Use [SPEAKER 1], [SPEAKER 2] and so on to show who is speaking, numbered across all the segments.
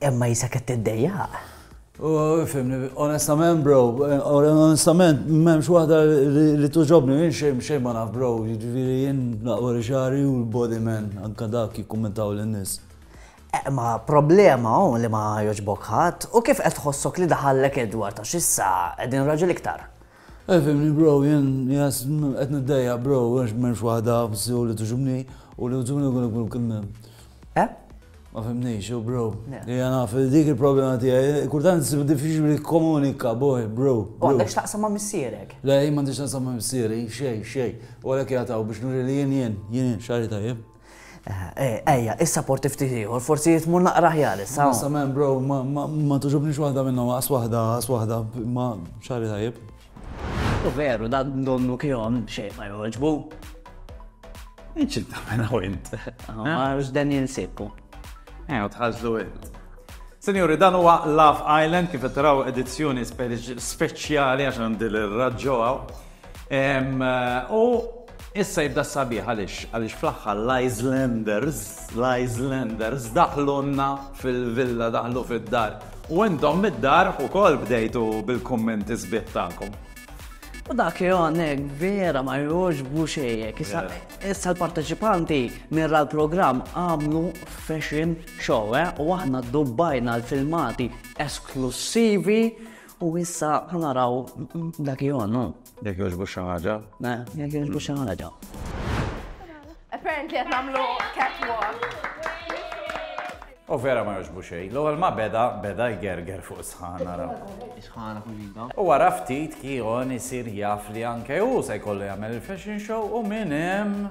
[SPEAKER 1] Imma jisek qed
[SPEAKER 2] tiddejjaq.
[SPEAKER 1] Fimni, onestament bro, onestament m'hemmx waħda li tuġobni minn xejn xejn ma naf bro, jiġifieri jien naqwa li xagħri u l-body man anke dak jikkummentaw lin-nies. Ma
[SPEAKER 2] problema hawn li ma jogħġbok ħadd u kif qed tħossok li daħallek Edward għax issa qegħdin raġel iktar. Ifhimni bro,
[SPEAKER 1] jien qed niddejjaq bro għax m'hemmx waħda f'sew li togħġobni u li togħġobni nkun ikun kien hemm. Eh? Ma fhimnix, u bro. Hija naf dik il-problema tiegħi, kultant nsib diffiċli nikkomunika boy, bro. U għandek x'taqsam ma'
[SPEAKER 2] missierek? Le, jien m'għandix x'naqsam ma'
[SPEAKER 1] missieri, xejn, xejn. U għalhekk jagħtaw biex nuri li jien jien, jien jien, xagħri tajjeb.
[SPEAKER 2] Ejja, issa porti ftit ieħor, forsi jitmu naqra ħjar issa. Issa men bro,
[SPEAKER 1] ma tuġubni x'waħda minnhom, għas waħda, għas waħda, ma xari tajib. U
[SPEAKER 2] veru, da donnu kihom xejn ma joġbu.
[SPEAKER 3] Inċil ta' mena u int. Għarġ dan
[SPEAKER 2] jinsibku. Ejo,
[SPEAKER 3] tħazlu int. Senjuri, dan huwa Love Island kif taraw edizzjoni speċjali għax għandi l-raġġoħaw. U issa jibda sabiħ għaliex għaliex fl-aħħar l-Icelanders, l-Icelanders daħlunna fil-villa daħlu fid-dar. U intom mid-dar ukoll bdejtu bil-kummenti sbieħ tagħkom. U dak
[SPEAKER 2] jonek vera ma jux buxejek. Issa l-parteċipanti mirra l-program għamlu fashion show, eh? u aħna dubbajna l-filmati esklusivi U issa naraw dak jonu. Jek joġbu xaħġa.
[SPEAKER 3] Ne, jek joġbu
[SPEAKER 2] xaħġa. Apparently
[SPEAKER 4] għet namlu catwalk.
[SPEAKER 3] U vera ma joġbu xej. L-ewwel ma beda, beda jgerger fuq sħan naraw. Sħana fuq
[SPEAKER 2] ġidda. U wara ftit
[SPEAKER 3] kion isir jaf li anke u se jkollu jagħmel il-fashion show u minn hemm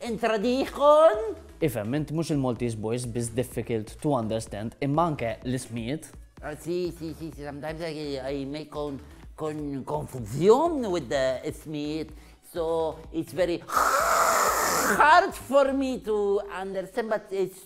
[SPEAKER 5] Entra Dijon! Ifhem, int mhux
[SPEAKER 2] il-Maltese boys biss difficult to understand imma anke l-ismijiet. Si, si, si,
[SPEAKER 5] si, sometimes I make on con confusion with the ismijiet, so it's very hard for me to understand, but it's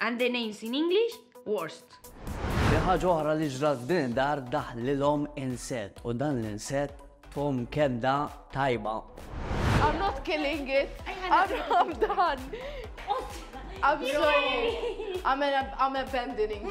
[SPEAKER 4] And the names in English, worst. Fi ħaġa
[SPEAKER 2] oħra li ġrat f'din id-dar daħlilhom inset u dan l-inset tum kedda tajba. I'm not
[SPEAKER 4] killing it. I'm done. I'm sorry. I'm, I'm abandoning.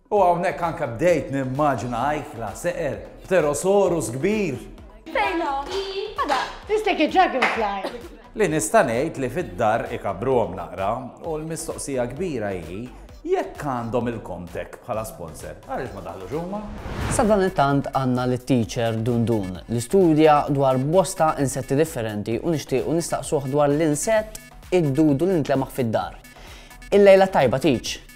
[SPEAKER 3] U hawnhekk anke bdejt nimmaġina ajkla seqer pterosaurus kbir. Fejn
[SPEAKER 6] hu? Għada, it's like a dragonfly. Li nista'
[SPEAKER 3] ngħid li fid-dar ikabbruhom naqra u l-mistoqsija kbira hi jekk għandhom il-Comtech bħala sponsor, għaliex ma daħlux huma? Sadanittant
[SPEAKER 2] għandna lit-teacher Dundun li studja dwar bosta insetti differenti u nixtiequ nistaqsuh dwar l-insett id-dudu li nitlemaħ fid-dar. Il-lejla tajba teach!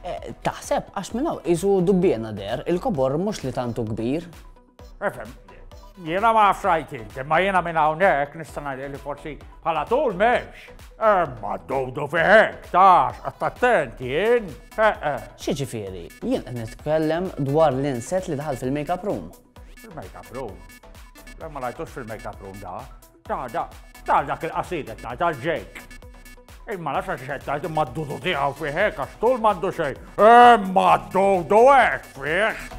[SPEAKER 7] Taħseb
[SPEAKER 2] għax minn hawn qisu dubbiena der, il-kobor mhux li tantu kbir. Efhem,
[SPEAKER 7] jiena ma frajt inti, ma jiena minn hawnhekk nista' ngħid li forsi bħala tul m'hemmx. Imma dowdu fihek, tax, attent jien. Xi
[SPEAKER 2] ġifieri, jien qed nitkellem dwar l-inset li daħal fil-makeup room. Fil-makeup
[SPEAKER 7] room? Ma rajtux fil-makeup room da. Ta' da, ta' dak il-qasida ta' ta' ġejk. Imma la xax xed tajt imma d-dudu tiegħu fih hekk għax tul m'għandu xejn. Imma eh, d-dudu hekk fih.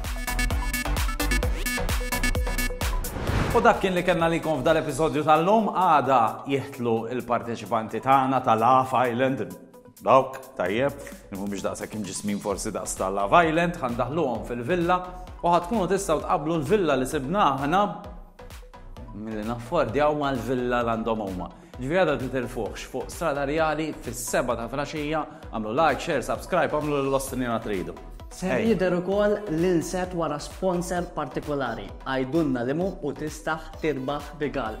[SPEAKER 3] U dak kien li kellna li f'dal episodju tal-lum għada jihtlu il-parteċipanti tagħna tal-Half Island Dawk, tajjeb, li mhumiex daqshekk imġismin forsi daqs ta' Love Island, ħa ndaħluhom fil-villa u ħa tkunu tistgħu tqabblu l-villa li sibna aħna milli naffordjaw mal-villa l għandhom huma. Ġifieri għadha titilfuħx fuq Strada Rjali fis-seba ta' flaxija, għamlu like, share, subscribe, għamlu l-ostinina tridu. Ser jidher
[SPEAKER 2] ukoll l-inset wara sponsor partikolari. Għidulna limu u tistaħ tirbaħ rigal.